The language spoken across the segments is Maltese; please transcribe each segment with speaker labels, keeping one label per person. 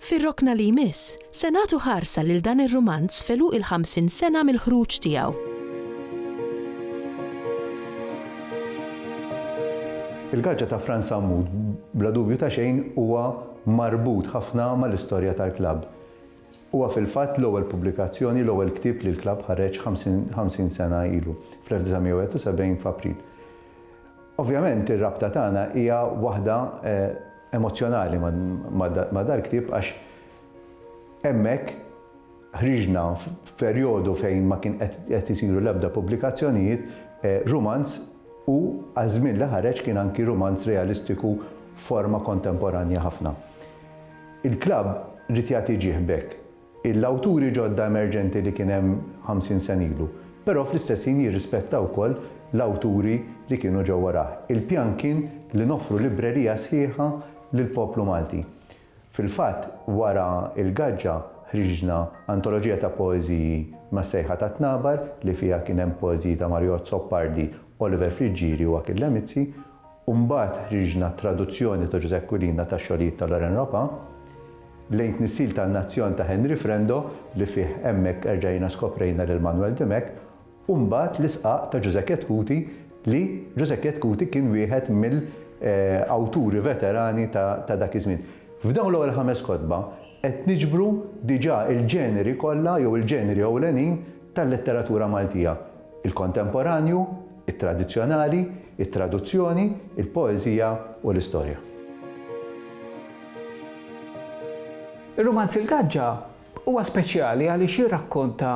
Speaker 1: Fir-rokna li jmiss, se nagħtu ħarsa lil dan ir-rumanz f'għeluq il-ħamsin sena mill-ħruġ tiegħu.
Speaker 2: Il-gaġġa ta' Frans Sammut bla dubju ta' xejn huwa marbut ħafna mal-istorja tal-klabb. Huwa fil-fatt l-ewwel pubblikazzjoni, l-ewwel ktieb li l-klabb ħareġ 50 sena ilu, fl-1971 f'April. Ovvjament ir-rabta tagħna hija waħda emozzjonali ma' dal-ktieb għax hemmhekk ħriġna f'perjodu fejn ma kien qed isiru l-ebda pubblikazzjonijiet rumanz u għal żmien li ħareġ kien anki rumanz realistiku f'forma kontemporanja ħafna. Il-klabb ried jagħti ġieħ b'hekk. l-awturi ġodda emerġenti li kien hemm ħamsin sena ilu, però fl-istess ħin jirrispetta wkoll l-awturi li kienu ġew warah. Il-pjan kien li noffru librerija sħiħa lill-poplu Malti. Fil-fatt, wara Il-Gaġġa, ħriġna antoloġija ta' poeżiji mas-sejħa tat-tnabar li fiha kien hemm poeżiji ta' Marju Azzopardi, Oliver Friggieri u Achille Mizzi, u mbagħad ħriġna t-traduzzjoni ta' Ġużè Aquilina tax-xogħlijiet ta' Loren Ropa, lejn Tnissil tan-Nazzjon ta' Henry Frendo li fih hemmhekk erġajna skoprejna lil Manwel Dimech, u mbagħad l-Isqaq ta' Ġużè Chetcuti li Ġużè Chetcuti kien wieħed mill awturi veterani ta' dak iż-żmien. F'dawn l-ewwel ħames kotba qed niġbru diġà l-ġeneri kollha jew il-ġeneri ewlenin tal-letteratura Maltija, il-kontemporanju, it-tradizzjonali, it-traduzzjoni, il-poeżija u l-istorja.
Speaker 3: Ir-rumanz Il-Gaġġa huwa speċjali għaliex jirrakkonta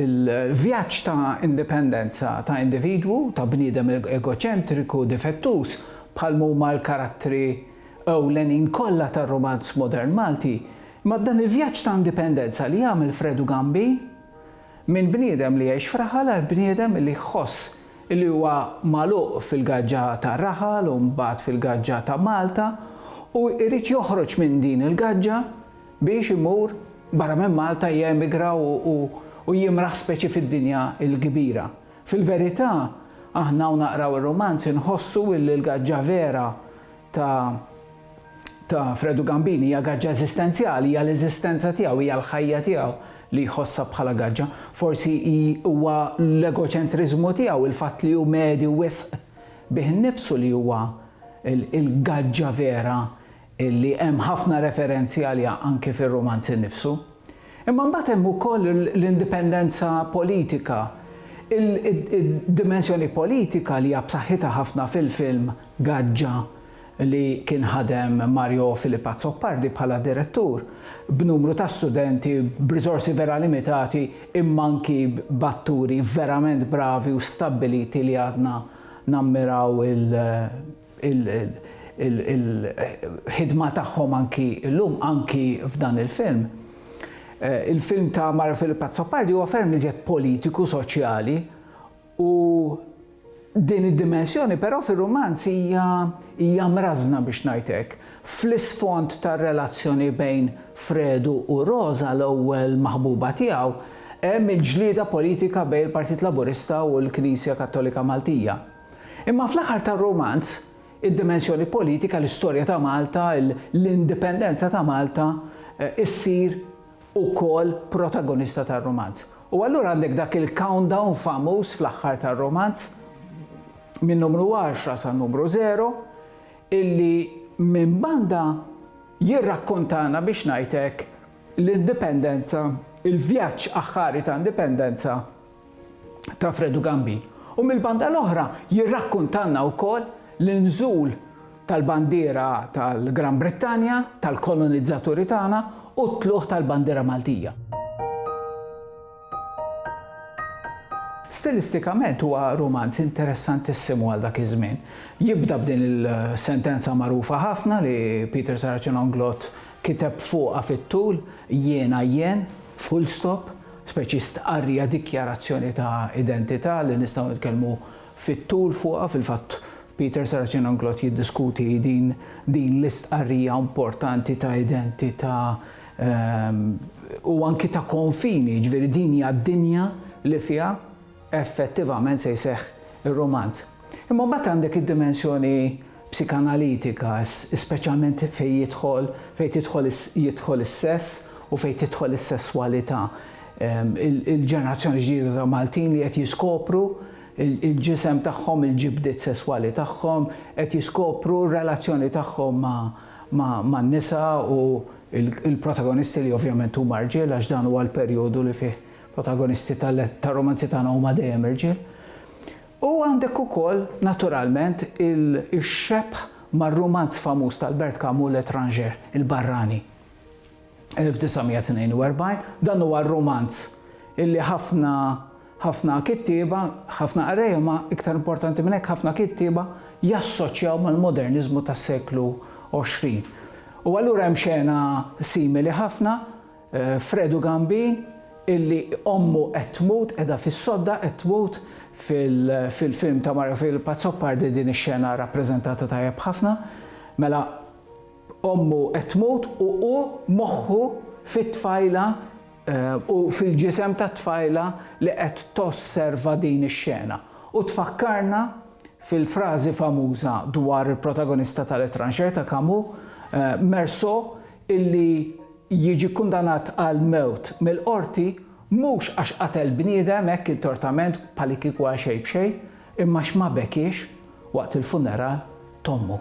Speaker 3: l-vjaġġ ta' indipendenza ta' individwu, ta' bniedem egoċentriku, difettuż, bħalma huma l-karattri ewlenin kollha tar-rumanz modern Malti, imma dan il-vjaġġ ta' indipendenza li jagħmel Fredu Gambin, Minn bniedem li jgħix f'raħal għal bniedem li jħoss li huwa magħluq fil-gaġġa tar-raħal u mbagħad fil-gaġġa ta' Malta u jrid joħroġ minn din il-gaġġa biex imur barra minn Malta jemigra u jimraħ speċi fid-dinja l-kbira. Fil-verità, aħna u naqraw ir-rumanz inħossu illi l-gaġġa vera ta' ta' Fredu Gambini hija gaġġa eżistenzjali, hija l-eżistenza tiegħu, hija l-ħajja tiegħu li jħossha bħala gaġġa. Forsi hi huwa l-egoċentriżmu tiegħu, il-fatt li hu medju wisq bih innifsu li huwa l-gaġġa vera li hemm ħafna referenzi għaliha anki fir-rumanz innifsu. Imma mbagħad hemm ukoll l-indipendenza politika, id-dimensjoni politika li hija b'saħħitha ħafna fil-film Gaġġa li kien ħadem Mario Filip Azzopardi bħala direttur, b'numru ta' studenti, b'riżorsi vera limitati imma anki b'atturi verament bravi u stabbiliti li għadna nammiraw il-ħidma tagħhom anki llum, anki f'dan il-film. Il-film ta' Mario Filip Azzopardi huwa ferm iżjed politiku, soċjali, U din id-dimensjoni però fir-rumanz hija hija mrażżna biex ngħid hekk. Fl-isfond tar-relazzjoni bejn Fredu u Roża, l-ewwel maħbuba tiegħu, hemm il-ġlieda politika bejn il-Partit Laburista u l-Knisja Kattolika Maltija. Imma fl-aħħar tar-rumanz, id-dimensjoni politika, l-istorja ta' Malta, l-indipendenza ta' Malta, issir ukoll protagonista tar-rumanz. U allura għandek dak il-countdown famuż fl-aħħar tar-rumanz minn numru għaxra sa numru żero illi minn banda jirrakkontana biex ngħid hekk l-indipendenza, il-vjaġġ aħħari ta' indipendenza ta' Fredu Gambi u mill-banda l-oħra jirrakkuntalna wkoll l-inżul tal-bandiera tal-Gran Brittanja, tal-kolonizzaturi tagħna, u t-tlugħ tal-bandiera Maltija. Stilistikament huwa rumanz interessantissimu għal dak iż-żmien. Jibda b'din il-sentenza magħrufa ħafna li Peter Saracen Onglot kiteb fuqha fit-tul, Jiena jien, full stop, speċi stqarrija, dikjarazzjoni ta' identità li nistgħu nitkellmu fit-tul fuqha. Fil-fatt, Peter Saracen-Anglot jiddiskuti din din l-istqarrija importanti ta' identità u anki ta' konfini, jiġifieri din hija d-dinja li fiha effettivament se jseħħ ir-rumanz. Imma mbagħad għandek id-dimensjoni psikanalitika, speċjalment fejn jidħol, fejn tidħol jidħol is-sess u fejn tidħol is-sesswalità. Il-ġenerazzjoni ġdida ta' Maltin li qed jiskopru il-ġisem tagħhom, il-ġibdiet sesswali tagħhom, qed jiskopru r-relazzjoni tagħhom man-nisa u l-protagonisti li ovvjament huma rġiel għax dan huwa l-perjodu li fih protagonisti tar-romanzi tagħna huma dejjem irġiel, u għandek ukoll naturalment ix-xebh mar-rumanz famuż tal-Bert Camus L'Etranger, Il-Barrani, 1942. Dan huwa r-rumanz illi ħafna ħafna kittieba, ħafna qrejja ma iktar importanti minn hekk ħafna kittieba jassoċjaw mal-moderniżmu tas-seklu għoxrin. U allura hemm xena simili ħafna Fredu Gambin illi ommu qed tmut, qiegħda fis-sodda qed tmut fil-film ta' Mario Philip Azzopardi din ix-xena rappreżentata tajjeb ħafna. Mela ommu qed tmut u hu moħħu fit-tfajla u fil-ġisem tat-tfajla li qed tosserva din ix-xena. U tfakkarna fil-frażi famuża dwar il-protagonista tal-Étranger ta' Camus, Meursault, illi jiġi kkundannat għall-mewt mill-qorti mhux għax qatel bniedem hekk intortament bħalikieku għal xejn b'xejn, imma għax ma bekiex waqt il-funeral t'ommu.